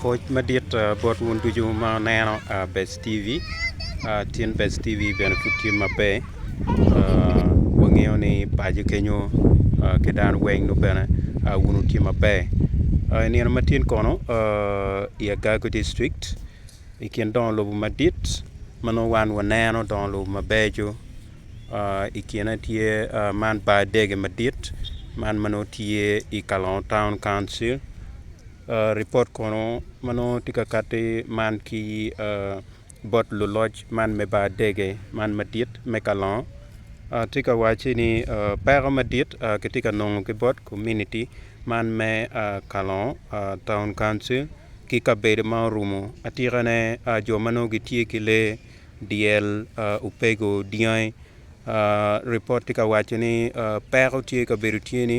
Pwoc madit bot wun ducu ma wuneno Bec TV, tin Bec TV bene pud tye maber, wangeyo ni paco kenyo ki dano weng nongo bene wun wutye maber. I nino matin kono i Agako dictric i kin dongo lobo madit ma nongo wan waneno dongo lobo mabeco i kine tye man bar dege madit man ma nongo tye i Kalongo taun kauncil. Ripot kono ma nongo tye ka kati man ki bot luloc man me bar dege man madit me kalongo tye ka wacci ni peko madit kitye ka nongo ki bot komuniti man me kalongo taun kauncil ki kabedo ma orumo atikane jo ma nongo gitye ki lee dyel, opego, dyangi ripot tye ka wacci ni peko tye kabedo tye ni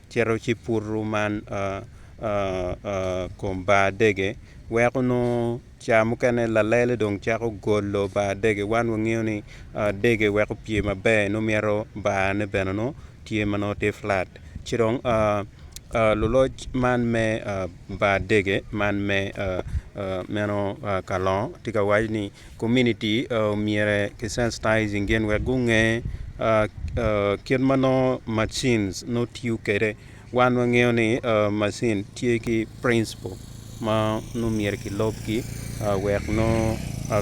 cito ci putu man kom bar dege weko nongo ca mukene lalele dong cako golo bar dege wan wangeyo ni dege weko opye maber nongo myero bar ne bene nongo tye ma nongo tye flat ci dong luloc man me bar dege man me meno kalongo tye ka waco ni Komuniti myero ki sensitizing gin wek gunge kit ma nongo macin nongo tiyo kwede. Wan wangeyo ni macin tye ki principle ma nongo myero ki lub ki wek nongo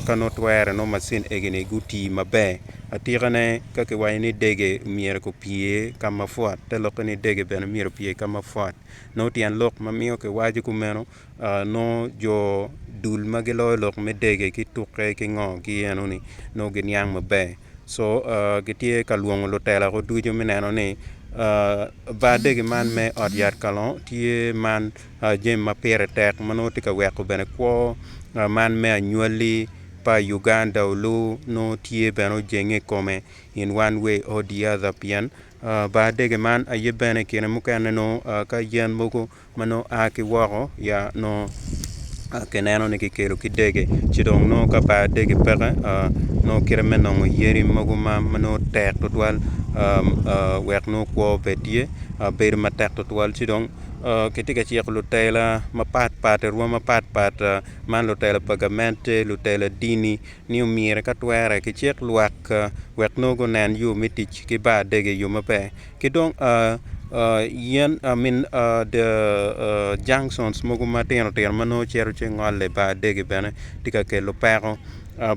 ka nongo twere nongo macin egi ni guti maber. Atika ne ka ki waco ni dege myero ki pye ka ma pwot te lokke ni dege bene myero opye ka ma pwot. Nongo tyen lok ma miyo ki waco kumeno nongo jo dul ma giloyo lok me dege ki tukke ki ngo ki eno ni nongo giniang maber co gitye ka lwongo lutela ko ducu me neno ni bar dege man me ot yat kalongo tye man jami ma pire tek ma nongo tye ka weko bene kwo man me anywali pa Uganda oluu nongo tye bene ojenge ikome in one way or the other pien bar dege man aye bene i kine mukene nongo ka yen mogo ma nongo a ki woko ya nongo kineno ni kikelo ki dege ci dong nongo ka pa dege peke nongo kite me nongo yadi mogo ma nongo tek tutwal wek nongo kwo obed tye bedo matek tutwal ci dong kitye ka ciko lutela mapat pat i rwom mapat pat man lutela pa gamente lutela dini ni omyero ka twere kicik lwak wek nongo gunen yo me tic ki bar dege i yo maber. ki dong yen junctions mogo matino tino ma nongo cito ci ngole i bar adegi bene tye ka kelo peko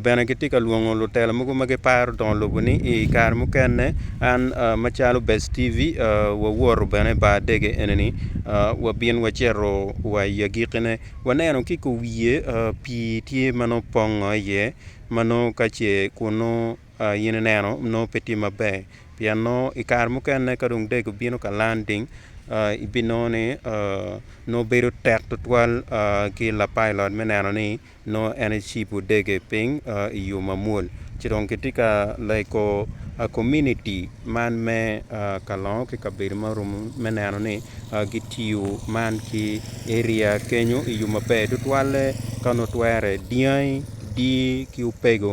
bene gitye ka lwongo lutela mogo ma giparo dongo lobo ni i kare mukene an macalo Best TV wawoto bene i bar adegi enini wabin wacito wa i agikkine waneno ki i kom wiye pii tye ma nongo pongo iye ma nongo ka ce kunnu In ineno, nongo pe tye maber pien nongo i kare mukene ka dong dek obino ka landing, ibinongo ni nongo bedo tek tutwal ki lapilot me neno ni nongo en ecibo dege piny i yo mamwol. Ci dong kitye ka lego komuniti man me kalongo ki kabedo ma orumu me neno ni gitiyo man ki eria kenyo i yo maber tutwalle ka onongo twere dyangi, dii ki opego.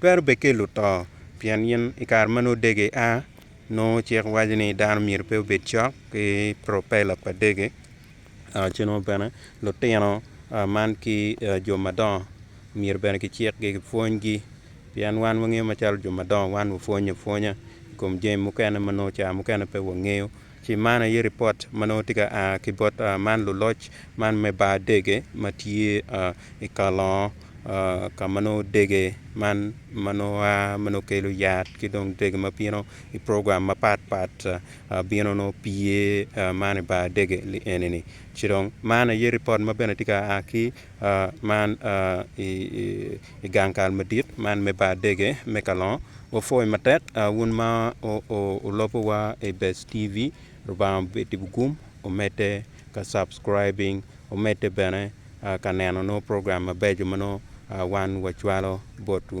Twero bed ki luto, pien in i kare ma nongo dege a, nongo cik waco ni dano myero pe obed cok ki propeller pa dege, ci nongo bene lutino man ki jo madongo myero bene kicikgi kipwonygi pien wan wangeyo macalo jo madongo wan wapwonyo apwonya i kom jami mukene ma nongo ca mukene pe wangeyo. Ci man aye ripot ma nongo tye ka a ki bot man luloc man me bar dege ma tye i Kalongo ka ma nongo dege man ma nongo a ma nongo kelo yat ki dong dege ma bino i program mapat pat bino nongo pye man i bar dege li eni-ni. Ci dong man aye ripot ma bene tye ka a ki Man i gang kal madit man me bar dege me kalongo, wapwoyi matek wun ma wulubo wa i best TV Lubanga obed i wi gum omedde ka subscribing omedde bene ka neno nongo program mabeco ma nongo wan wacwalo botwu.